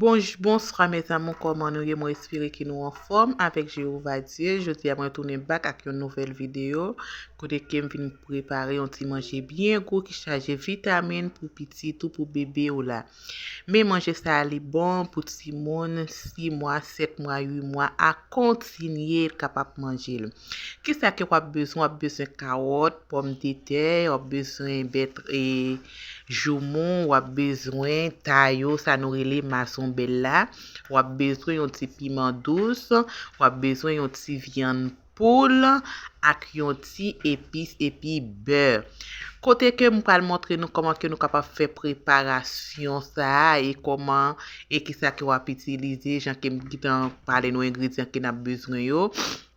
Bonj bonswa mes amour kòman nou ye mwen espere ke nou anfòm avèk Jehovah Dieu jodi a mwen tounen bak ak yon nouvèl video kote kem vin prepare yon ti manje byen gou ki chaje vitamin pou pitit ou pou bebe ou la men manje sa a li bon pou timoun 6 mwa 7 mwa 8 mwa a kontinye kapab manjel. Kisa ke wap bezwen wap bezwen kawòt pòmdetè wap bezwen bèt e joumou wap bezwen ta yo sa nou rele mazonbèl la wap bezwen yon ti piman dous wap bezwen yon ti vyann poul ak yon ti epis epi bè kote ke m pral montre nou kòman ke nou kapab fè preparasyon sa e kòman e kisa ke wap itilize jan ke m gitan pale nou engredyan ke nap bezwen yo.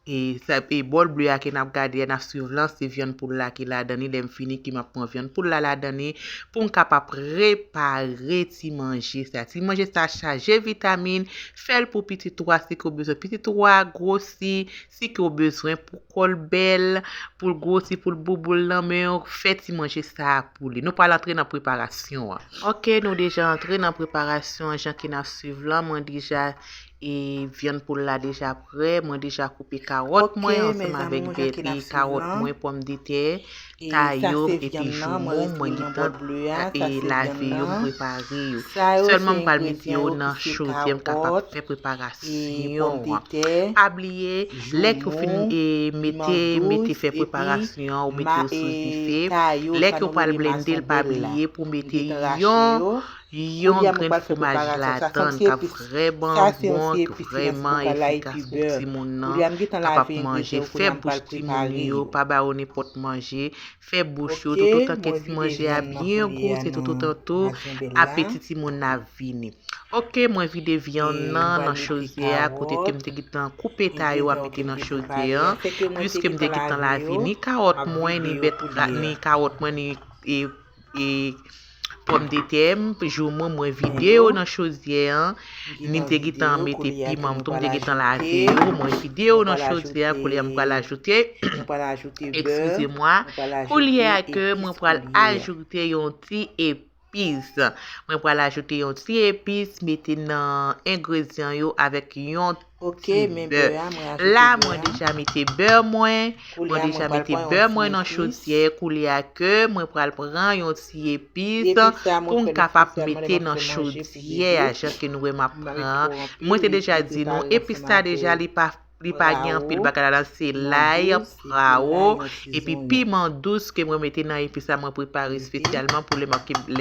E sa e bòl ble a ke nap gade a nap swiv lan se vyann poul la ki ladan li lèm fini ki map pran vyann poul la ladan li poum ka pa prepare ti manje sa ti manje sa chaje vitamin fèl pou pitit ou a si ke ou bezwen pitit ou a gwosi si ke ou bezwen pou kòl bèl poul gwosi poul bouboul nan menw fè ti manje sa pou li nou pral antre nan preparasyon an ok nou deja antre nan preparasyon an jan ke nap swiv lan mwen deja E vyann poul la deja prè, mwen deja koupe kawòt mwen ansanm avèk vèt e kawòt mwen, pòmdetè, ta yo epi joumou mwen gentan e lave yo m prepare yo. Sèlman m pral mete yo nan chodyè m kapab fè preparasyon an. Pa bliye lè ke w fin e mete mete fè preparasyon an ou mete yo sou dife, lè ke w pral blende l pa bliye pou mete yon Yon grenn fwomaj ladann kap vrèman bon tou vrèman efikas pou timoun nan kapab manje fè bouch timoun yo pa ba yo nenpòt manje fè bouch yo tout otan ke ti manje a byen gou se tout otan tou apeti timoun nan ap vini ok mwen vide vyann nan nan chodyè a kote kem te gintan koupe ta yo a mete nan chodyè an pwiskem te gintan lave ni kawòt mwen ni bèt ni kawòt mwen ni e pòmdetè m jou mwen mwen vide yo nan chodyè an ni m te gitan mete piman m tou m te gitan lave yo mwen vide yo nan chodyè a koulye a m pral ajoute ekskize mwa koulye a ke mwen pral ajoute yon ti epis mwen pral ajoute yon ti epis mete nan engredyan yo avèk yon Ok men beur a mwen ajoute beur a. La mwen deja mete beur mwen. Mwen deja mete beur mwen nan chodyè. Koulye a ke mwen pral pran yon ti epis pou m kapap mete nan chodyè a jan ke nou wè map pran. Mwen te deja di nou epis la deja li pa li pa gen anpil bagay ladan se lay, prawo epi piman dous ke mwen mete nan epis la mwen prepare espesyalman pou lè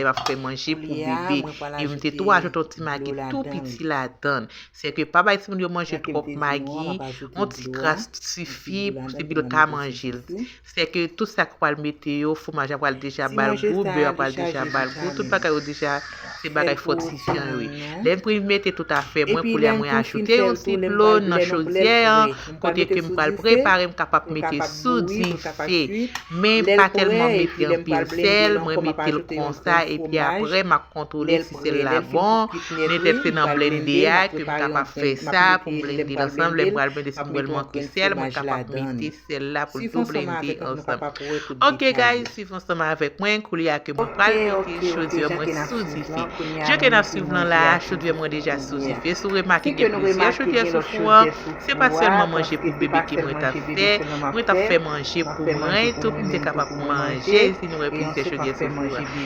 map fè manje pou bebe. Epi m te tou ajoute yon ti magi tou piti ladan. Se ke pa bay timoun yo manje twòp magi, yon ti kras sifi pou timoun yo ta manje l. Se ke tout sa ki pral mete yo, fwomaj la pral deja ba l gou, bè a pral deja ba l gou, tout bagay yo deja se bagay fòtifyan yo ye. Lè m fin mete tout afè mwen, koulye a mwen ajoute yon ti dlo nan chodyè an, kote ke m pral prepare, m kapab mete sou dife, men pa tèlman mete anpil sèl, mwen mete l konsa epi aprè m ap kontwole. sèl la bon, men pèp se nan blende a ke m kapab fè sa, pou m blende l ansanm, lè m pral blende si m wè l manke sèl, mwen kapab mete sèl la pou l tou blende ansanm. Ok guys, swiv ansanm avèk mwen, koulye a ke mwen pral mete chodyè mwen sou dife. Je ke n ap swiv lan la a, chodyè mwen deja sou dife, si w remake gen plizyè chodyè sou fou an, se pa sèlman manje pou bebe ke mwen t ap fè, mwen t ap fè manje pou mwen tou pou m te kapab manje, si nou wè plizyè chodyè sou fou an.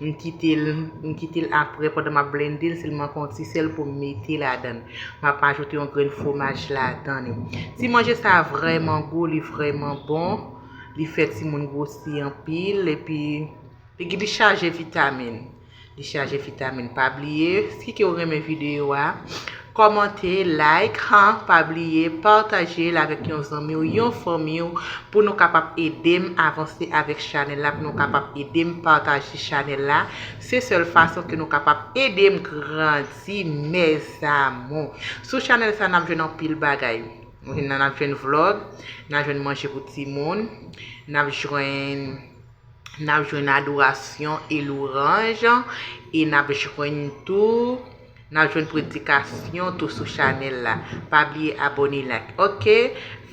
M kite l M kite l aprè pandan m ap blende l sèlman fè yon ti sèl pou m mete ladan l. M ap ajoute yon grenn fwomaj ladan l. Ti manje sa a vrèman gou, li vrèman bon, li fè timoun gwosi anpil epi li chaje vitamin. Li chaje vitamin. Pa bliye, si ke w renmen videyo a. Kòmante, like, han pa bliye pataje l avèk yon zanmi w, yon fanmi w pou nou kapab ede m avanse avèk chanèl la, pou nou kapab ede m pataje chanèl la. Se sèl fason ke nou kapab ede m grandi mes amours. Sou chanèl sa nap jwenn anpil bagay. Nap jwenn vlog, nap jwenn manje pou timoun, nap jwenn. N ap jwenn adorasyon e louranj e n ap jwenn tou n ap jwenn predikasyon tou sou chanèl la pa bliye abòne like ok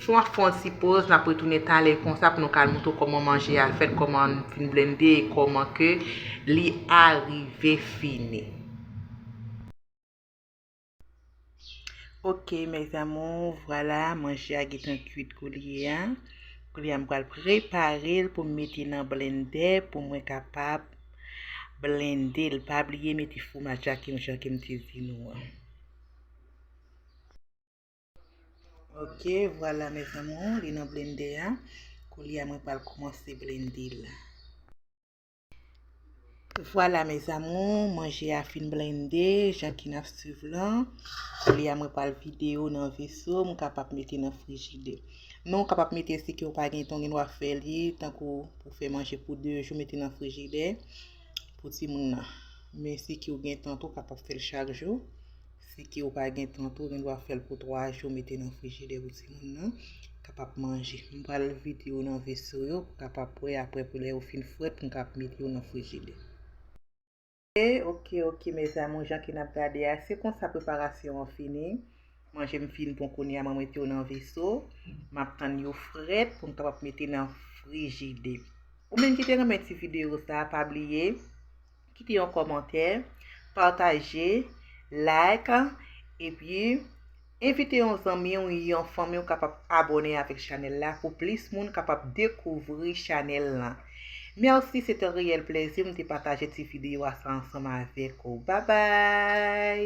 fon ap fon ti poz n ap retounen talè konsa pou nou ka al moutre w kòman manje a fèt kòman n fin blende e kòman ke li arive fini. Ok mes amours, vwala manje a getan kuit koulye a. Koulye a m pral prepare l pou m mete nan blendè pou mwen kapab blende l. Pa bliye mete fwomaj la kem jan kem te di nou an. Ok vwala mes amours li nan blendè a. Koulye a mwen pral koumanse blende l. Vwala mes amours, manje a fin blende, jan ki nan suiv lan. Koulye a mwen pral vide yo nan veso, mwen kapab mete nan frijide. Men ou kapab mete si ke ou pa gen ton, gen dwa fè li, tankou pou fè manje pou 2 jou, mete nan frijide pou timoun nan. Men si ke ou gen ton tou, ou kapab fè l chak jou. Si ke ou pa gen tan tou, ou gen dwa fèl pou 3 jou mete nan frijidè pou timoun nan kapab manje. M pral vide yo nan veso yo pou kapab pre apre pou lè yo fin frèt pou m kap mete yo nan frijidè. Ok ok ok mes amour jan ke nap gade a se konsa preparasyon an fini. Manje m fin bon kounye a mwen mete yo nan veso. Map tann yo frèt pou m kapab mete nan frijide. Ou menm ki te renmen ti video sa pa bliye. Kite yon kòmantè, pataje, like, epi envite yon zanmi w, yon fanmi w kapab abone avèk chanèl la pou plis moun kapab dekouvri chanèl lan. Merci se te reyèl plezi m te pataje ti video a sa ansanm avèk ou. Babay!